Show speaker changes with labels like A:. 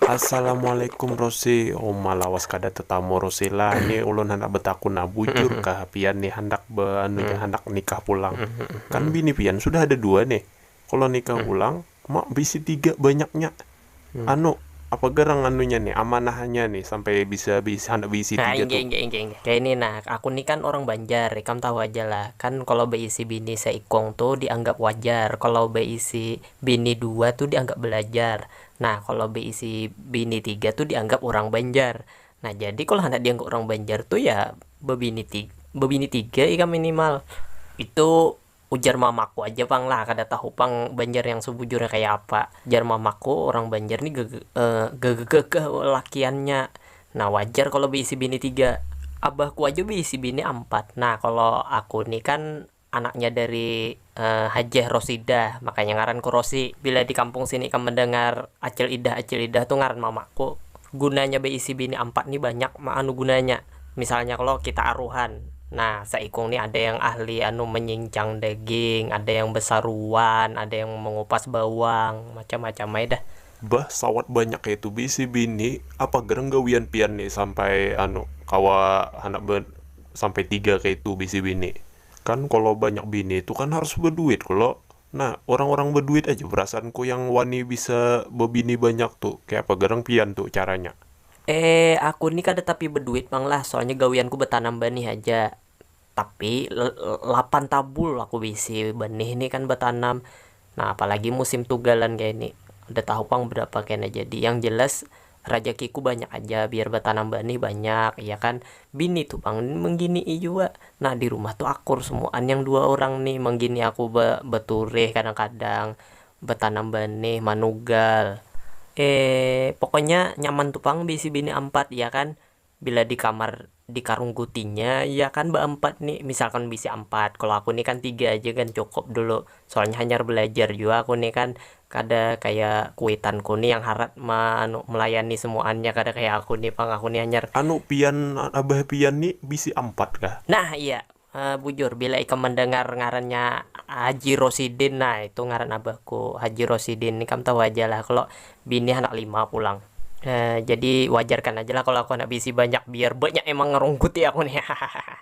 A: Assalamualaikum Rosi, uma lawas kada tatamu Rosi lah, ni ulun handak betakun nah bujur kah pian nih handak be anu jar handak nikah pulang, kan bini
B: pian
A: sudah ada
B: dua
A: nih, kalo nikah pulang ma
B: bisi
A: tiga banyaknya anu
B: apa
A: garang anunya nih amanahannya nih sampai bisa bisa handak beisi tiga tu. Inggih inggih inggih
B: kaya
A: ini nah,
B: aku nih kan orang banjar ikam tahu aja lah, kan kalo beisi bini seikung tu dianggap wajar, kalo beisi Bini dua tu dianggap belajar, nah kalo beisi bini tiga tu dianggap urang banjar, nah jadi kalo handak dianggap urang banjar tu ya bebini bebini tiga ikam minimal, itu ujar mamaku aja pang lah kada tahu pang banjar yang sebujurnya kaya apa, jar mamaku urang banjar ni gagagagah lakiannya, nah wajar kalo beisi bini tiga, abahku aja beisi bini ampat, nah kalo aku ni kan Anaknya dari Hajjah Rosidah, makanya ngaranku Rosi. Bila di kampung sini ikam mendengar Acil Idah, Acil Idah tu ngaran mamaku. Gunanya beisi bini ampat ni banyak anu gunanya. Misalnya kalo kita aruhan, nah saikung ni ada yang ahli anu menyincang daging, ada yang besaruan, ada yang mengupas bawang, macam-macam ai dah. Bah sawat
A: banyak kaitu bisi bini apa gerang gawian pian ni sampai anu kawa handak be sampai tiga kaitu bisi bini kan kalo banyak bini tu kan harus beduit kalo nah orang orang beduit aja perasaan ku yang wani bisa bebini banyak tu kaya apa gerang pian tu caranya. Eh aku
B: ni kada tapi beduit pang lah soalnya gawian ku betanam banih aja tapi lapan tabul aku baisi banih ni kan batanam, nah apalagi musim tugalan kaya ini kada tahu pang berapa kena jadi yang jelas rajaki ku banyak aja biar batanam banih banyak iya kan, bini tu pang nang mangginii jua nah dirumah tu akur semuaan yang dua orang ni manggini aku baturih kadang-kadang batanam banih manugal pokoknya nyaman tu pang baisi bini ampat iya kan. Bila di kamar di karunggutinya ya kan baampat ni, misalkan bisi ampat, kalo aku ni kan tiga aja gin cukup dulu, soalnya hanyar balajar jua aku ni kan, kada kaya kuitanku ni yang harat ma anu melayani semuaannya kada kaya aku ni pang, aku ni hanyar. Anu pian
A: abah pian ni bisi ampat kah? Nah iya,
B: Haa bujur bila ikam mandangar ngarannya haji rosidin nah itu ngaran abahku haji rosidin ni kam tahu aja lah kalo bini handak lima pulang haa jadi wajarkan aja lah kalo aku handak baisi banyak biar banyak yang mangarungkuti aku ni hahaha.